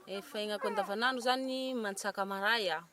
Efa iainako andavanandro zany ny mantsaka maray a.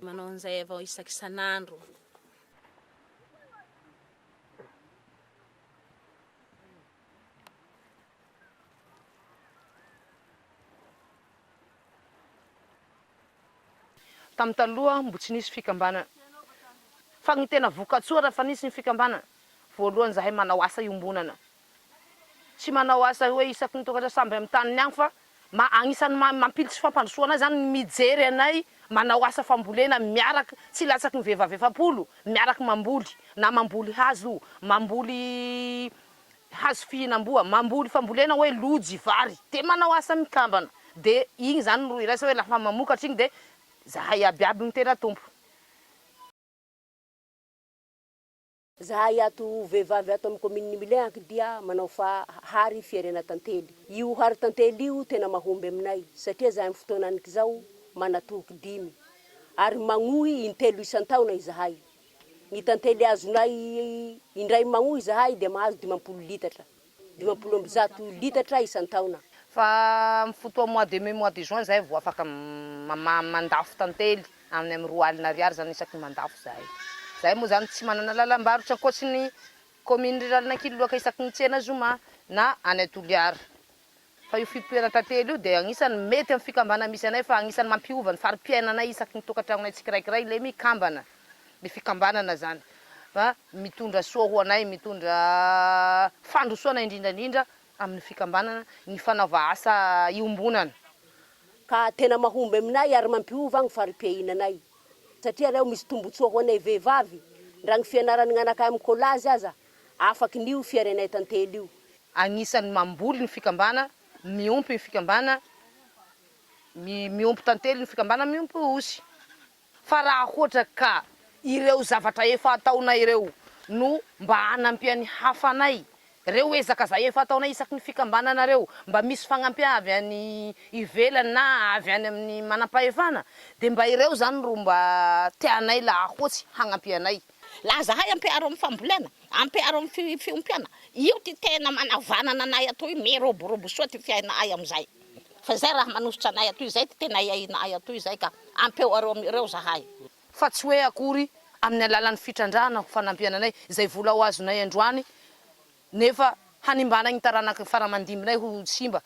Manao an'izay avao isaky isan'andro. Tamin'ny taloha mbo tsy nisy fikambanana fa ny tena vokatsoa raha efa nisy ny fikambanana, voalohany zahay manao asa iombonana tsy manao asa hoe isaky ny tokatra samby amin'ny taniny agny fa ma agnisan'ny ma mampily tsy fampandrosoana ahy zany ny mijery anay manao asa fambolena miarak tsy latsaky ny vehivavy efapolo miarak mamboly na mamboly hazo mamboly hazo fihinamboa mamboly fambolena hoe lojy vary de manao asa mikambana de igny zany ro iraisa hoe lafa mamokatra igny de zahay iabiaby mitera tompo. Zahay ato vehivavy ato amin'ny kaominin'i Milehaky dia manao fa hary fierena tantely. Io hary tantely io tena mahomby aminay satria zahay amin'ny fotoanan'ikizao manatoky dimy ary magnohy intelo isan-taona izahay. Ny tantely azonay indray magnohy izahay dia mahazo dimampolo litatra. dimampolo amby zato litatra isan-taona. Fa amin'ny fotoa mois de mai, mois de juin zahay vao afaka mandafo tantely, any amin'ny roa alina ariary zany isaky ny mandafo zahay. Zahay moa zany tsy manana lalam-barotra ankoatry ny commune rurale-n'Ankiloaka isaky ny tsena zoma na any Toliara. Fa io fitoeran-tantely io dia anisany mety amin'ny fikambanana misy anay fa anisany mampiova ny fari-piainanay isaky ny tokantragnonay tsikiraikiray le mikambana. Le fikambanana zany fa mitondra soa ho anay, mitondra fandrosoana indrindra indrindra amin'ny fikambanana ny fanaova asa iombonana. Ka tena mahomby aminay ary mampiova ny fari-piainanay satria aleo misy tombotsoa ho anay vehivavy ndra ny fianaran'ny anakay amin'ny collage aza Afaky ny io fiarenay tantely io. Agnisan'ny mamboly ny fikambana, miompy ny fikambana, miompy tantely ny fikambana, miompy osy. Fa raha hoatra ka ireo zavatra efa ataonay ireo no mba hanampian'ny hafa anay, reo ezaka zay efa ataonay isaky ny fikambanana reo, mba misy fagnampian avy any ivelany na avy any amin'ny manampahefana, de mba ireo zany ro mba tianay laha hoatsy hagnampianay. Laza ahy ampiharo amin'ny fambolena, ampiharo amin'ny fiompiana, io ty tena manavanana anay atoy, miroborobo soa ty fiaina'ay amin'izay, fa izay raha manosotra anay atoy, izay ty tena iaina'ay atoy izay ka, ampeo areo amin'ireo zahay. Fa tsy hoe akory amin'ny alalan'ny fitrandrahana ho fanampiana anay izay vola ho azonay androany nefa hanimbana ny taranaka faramandimbinay ho simba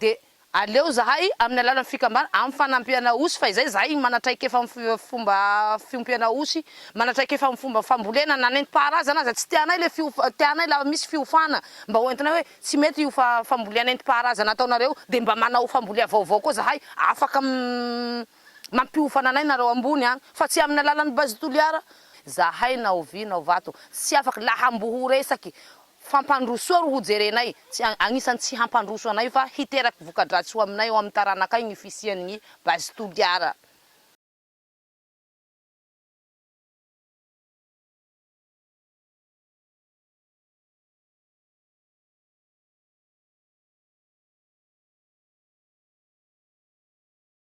dia aleo zahay amin'ny alalan'ny fikambana amin'ny fanampiana osy fa izay zahay manatraikefa amin'ny fomba fiompiana osy manatraikefa amin'ny fomba fambolena na nentim-paharazana aza tsy tianay ilay fiofa tianay la misy fiofana mba ho entinay hoe tsy mety io fa fambolea nentim-paharazana ataonareo dia mba manao fambolea vaovao koa zahay afaka Mampiofana anay nareo ambony an! Fa tsy aminy alalany base Toliara! Zahay na ho vy na ho vato tsy afak la hambo ho resaky fampandrosoa ro ho jerenay tsy agnisany tsy hampandroso anay fa hiteraky vokadratsy ho aminay ao aminy taranakay gny fisian gny base Toliara!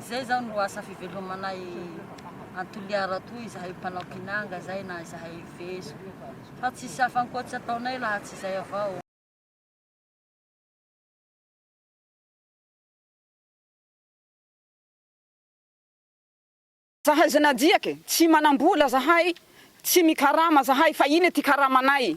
Izay izao no asa fivelomanay any Toliara toa izahay mpanao kinanga izay na izahay vezo fa tsisy hafa ankoatsy ataonay laha tsy izay avao. Zahay zenadyak tsy manambola zahay tsy mikarama zahay fa iny ty karamanay.